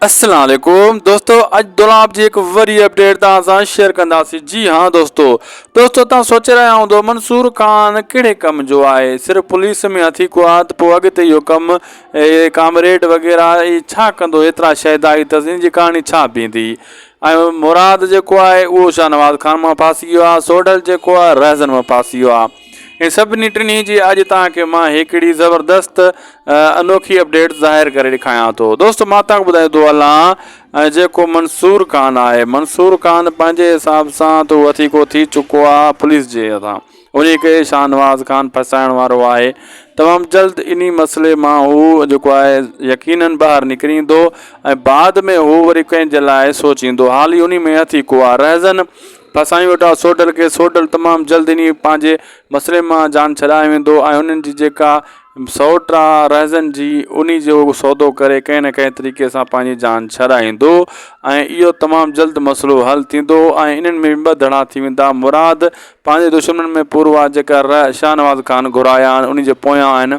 السلام عليڪم دوستو اڄ دولاب جي هڪ وري اپڊيٽ توهان سان شيئر ڪنداسين جي ها دوستو دوستو توهان سوچي رهيا هوندو منصور خان ڪهڙي ڪم جو آهي صرف پوليس ۾ هٿي ڪو آهي ته پوء اڳتي اهو ڪم ڪامريڊ وغيره اي ڇا ڪندو ايترا شهدائي ته ان جي ڪهاڻي ڇا بيندي ۽ مراد جيڪو آهي اهو شاهنواز خان مان ڦاسي ويو آهي سوڍل جيڪو آهي رهزن مان ڦاسي ويو آهي ان سڀني ٽنهي جي اڄ توهان کي مان هڪڙي زبردست انوکي اپڊيٽ ظاهر ڪري ڏيکايان ٿو دوستو مان توهان کي ٻڌائيندو هلان جيڪو منصور خان آهي منصور خان پنهنجي حساب سان تو وٿيڪو ٿي چڪو آهي پوليس جي هٿان ان کي شاهنواز خان ڦسائڻ وارو آهي تمام جلد اني مسئلي مان هو جيڪو آهي يقينن ٻاهر نڪريندو ۽ بعد ۾ هو وري ڪنهن جي لاء سوچيندو حالي اني ۾ هٿيڪو آهي رهزن پر سائين وٽان سوڍل کي سوڍل تمام جلد انهي پنهنجي مسئلي مان جان ڇڏائي ويندو ۽ انهن جي جيڪا سئوٽ آ رهزن جي انهي جو سودو ڪري ڪنهن نه ڪنهن طريقي سان پنهنجي جان ڇڏائيندو ۽ اهو تمام جلد مسئلو حل ٿيندو ۽ انهن ۾ به ٻه ڌڙا ٿي ويندا مراد پنهنجي دشمنن ۾ پورو آ جيڪا رح شاهنواز خان گهرايا آهن انهي جي پويان آهن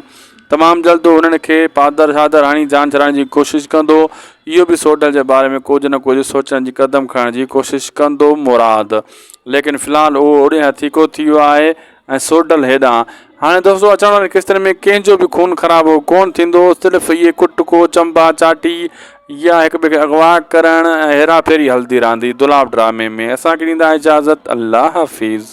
تمام جلد هو انهن کي پادر شادر هڻي جان ڇڏائڻ جي ڪوشش ڪندو. اهو به سوڍل جي باري ۾ ڪجهه نه ڪجهه سوچڻ جي قدم کڻڻ جي ڪوشش ڪندو مراد ليڪن في الحال اهو اوڏي هٿيڪو ٿي ويو آهي ۽ سوڍل هيڏانهن. هاڻي دوستو اچڻ وارين قسطن ۾ ڪنهن جو به خون خرابو ڪونه ٿيندو صرف اهي ڪٽڪو چنبا چاٽي يا هڪ ٻئي کي اغوا ڪرڻ ۽ هيرا ڦيري هلندي رهندي دولاب ڊرامي ۾ اسان کي ڏيندا اجازت الله حافظ.